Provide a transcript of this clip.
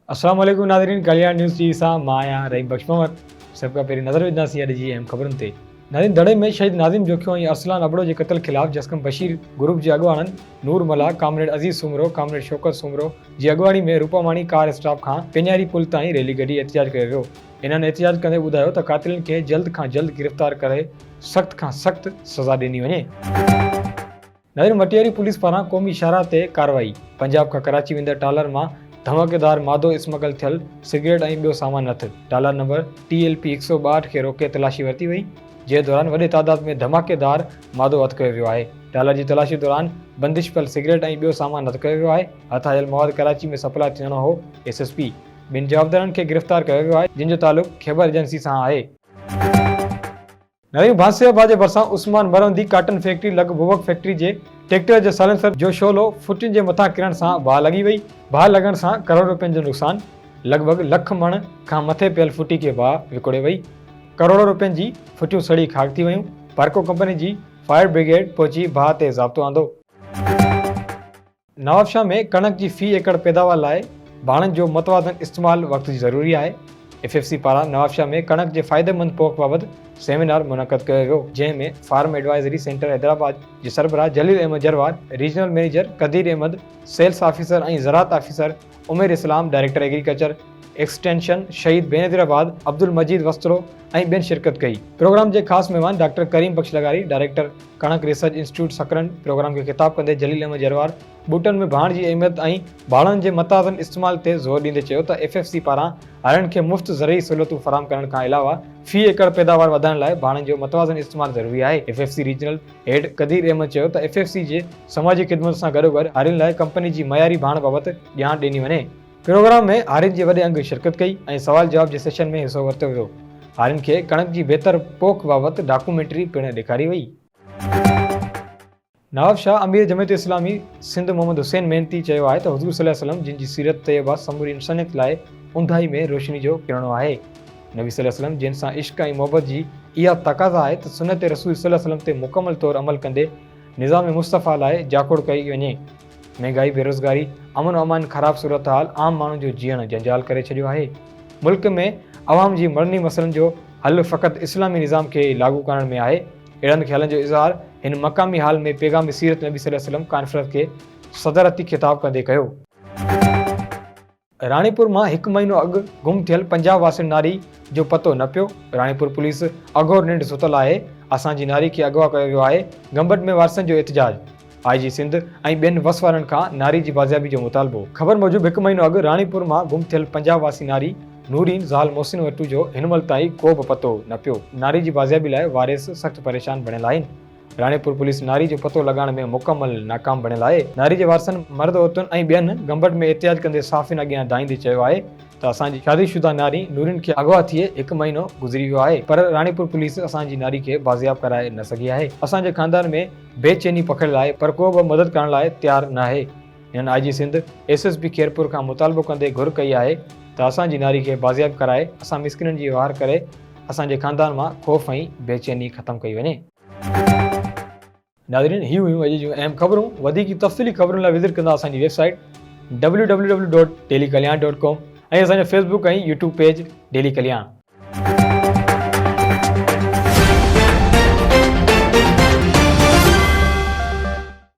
السلام عليڪم ناظرين ڪلياڻ نيوز ٽي وي سان مان آهيان رحيم بخش مهمد سڀ کان پهرين نظر وجهنداسين اڄ جي اهم خبرن تي ناظرين دڙي ۾ شهيد ناظم جوکيو ۽ ارسلان ابڙو جي قتل خلاف جسقم بشير گروپ جي اڳواڻن نور ملاح ڪامريڊ عزيز سومرو ڪامريڊ شوڪت سومرو جي اڳواڻي ۾ روپاماڻي ڪار اسٽاپ کان پيڃاري پل تائين ريلي ڪڍي احتجاج ڪيو ويو هنن احتجاج ڪندي ٻڌايو ته قاتلن کي جلد کان جلد گرفتار ڪري سخت کان سخت سزا ڏني وڃي. نير مٽياري پوليس پاران قومي شاهراهه تي ڪارروائي، پنجاب کان ڪراچي ويندڙ ٽالر مان ڌماڪيدار مادو اسمگل ٿيل سگريٽ ۽ ٻيو سامان هٿ، trailer number T L P هڪ سؤ ٻاهٺ کي روڪي تلاشي ورتي وئي، جنهن دوران وڏي تعداد ۾ ڌماڪيدار مادو هٿ ڪيو ويو آهي، ٽالر جي تلاشي دوران بندش پيل سگريٽ ۽ ٻيو سامان هٿ ڪيو ويو آهي، هٿ آيل مواد ڪراچي ۾ سپلاء ٿيڻو هو، ايس ايس پي. ٻن جوابدارن کي گرفتار ڪيو ويو آهي، جن جو تعلق خيبر ايجنسي سان آهي. نريون ڀانسيو آباد جي ڀرسان عثمان مروندي ڪاٽن فيڪٽري لڳ بوبڪ فيڪٽري جي ٽيڪٽر جي سائلنسر جو شعلو ڦٽن جي مٿان ڪرڻ سان باهه لڳي وئي، باهه لڳڻ سان ڪروڙ رپين جو نقصان، لڳ ڀڳ لک مڻ کان مٿي پيل ڦٽي کي باهه وڪوڙي وئي، ڪروڙ رپين جي ڦٽيون سڙي خاڪ ٿي ويون، پارڪو ڪمپني جي فائر برگيڊ پهچي باهه تي ضابطو آندو. نوابشاهه ۾ ڪڻڪ جي في ايڪڙ پيداوار لاء ڀاڻن جو متوازن استعمال وقت جي ضروري آهي، ايف ايف سي پاران نوابشاهه ۾ ڪڻڪ جي فائديمند پوک بابت سيمينار منعقد ڪيو ويو، جنهن ۾ فارم ايڊوائزري سينٽر حيدرآباد جي سربراهه Jalil Ahmed Jarwar, regional manager Qadeer Ahmed, sales officer ۽ زراعت officer, Umair Islam director agriculture extension Shaheed Benazir آباد عبدالمجيد وسطرو ۽ ٻين شرڪت ڪئي. پروگرام جي خاص مهمان ڊاڪٽر ڪريم بخش لغاري ڊائريڪٽر ڪڻڪ ريسرچ انسٽيٽيوٽ سڪرنڊ پروگرام کي خطاب ڪندي جليل احمد جروار ٻوٽن ۾ ڀاڻ جي اهميت ۽ ڀاڻن جي متوازن استعمال تي زور ڏيندي چيو ته ايف ايف سي پاران هارين کي مفت زرعي سهولتون فراهم ڪرڻ کان علاوه في ايڪڙ پيداوار وڌائڻ لاء ڀاڻن جو متوازن استعمال ضروري آهي F F C regional head Qadeer Ahmed چيو ته ايف ايف سي جي سماجي خدمت سان گڏوگڏ هارين لاء ڪمپني جي معياري ڀاڻ بابت ڄاڻ ڏني وڃي. پروگرام ۾ هارين جي وڏي انگ شرڪت ڪئي ۽ سوال جواب جي سيشن ۾ حصو ورتو ويو. هارين کي ڪڻڪ جي بهتر پوک بابت ڊاڪومينٽري پڻ ڏيکاري وئي. نواب شاهه امير جمعيت اسلامي سنڌ محمد حسين محنتي چيو آهي ته حضور صلي وسلم جن جي سيرت طيبه سموري انسانيت لاء اونداهي ۾ روشني جو ڪرڻو آهي. نبي صلي الله عليه وسلم جنھن سان عشق ۽ محبت جي اھا تقاضا آھي ته سنت رسول صلي الله عليه وسلم تي مڪمل طور عمل ڪندي نظام مصطفيٰ لاء جاکوڙ ڪئي وڃي. مھنگائي، بيروزگاري، امن و امان خراب صورتحال عام ماڻھو جو جيئڻ جنجال ڪري ڇڏيو آھي. ملڪ ۾ عوام جي مڙني مسئلن جو حل فقط اسلامي نظام کي لاڳو ڪرڻ ۾ آھي. اھڙن خيالن جو اظھار ھن مقامي ھال ۾ پيغام سيرت نبي صلي الله عليه وسلم ڪانفرنس کي صدارتي خطاب ڪندي ڪيو. راڻيپور مان هڪ مهينو اڳ گم ٿيل پنجاهه واسين ناري جو پتو نه پيو، راڻيپور پوليس اگهور ننڊ ستل آهي، اسان جي ناري کي اغوا ڪيو ويو آهي، گمبٽ ۾ وارثن جو احتجاج، آء جي سنڌ ۽ ٻين وس وارن کان ناري جي بازيابي جو مطالبو. خبر موجب هڪ مهينو اڳ راڻيپور مان گم ٿيل پنجاهه واسي ناري نورين زال محسن وٽو جو هن مهل تائين ڪو به پتو نه پيو، ناري جي بازيابي لاء وارث سخت پريشان بڻيل آهن. راڻيپور پوليس ناري جو پتو لڳائڻ ۾ مڪمل ناڪام بڻيل آهي، ناري جي وارثن مرد عورتن ۽ ٻين گمبٽ ۾ احتجاج ڪندي صحافين اڳيان دانهيندي چيو آهي ته اسان جي شادي شده ناري نورين کي اغوا ٿئي هڪ مهينو گذري ويو آهي پر راڻيپور پوليس اسان جي ناري کي بازياب ڪرائي نه سگهي آهي، اسان جي خاندان ۾ بي چيني پکڙيل آهي پر ڪو به مدد ڪرڻ لاء تيار ناهي. هنن I G Sindh, S S P Khairpur کان مطالبو ڪندي گهر ڪئي آهي ته اسان جي ناري کي بازياب ڪرائي اسان مسڪينن جي وهار ڪري اسان جي خاندان مان خوف ۽ بي چيني ختم ڪئي وڃي. ناظرين هي هيون اڄ جون اهم خبرون وڌيڪ تفصيلي خبرن لاء وزٽ ڪندا اسان جي website W W W dot daily Kalyan dot com ۽ اسان جو Facebook ۽ YouTube page daily ڪلياڻ.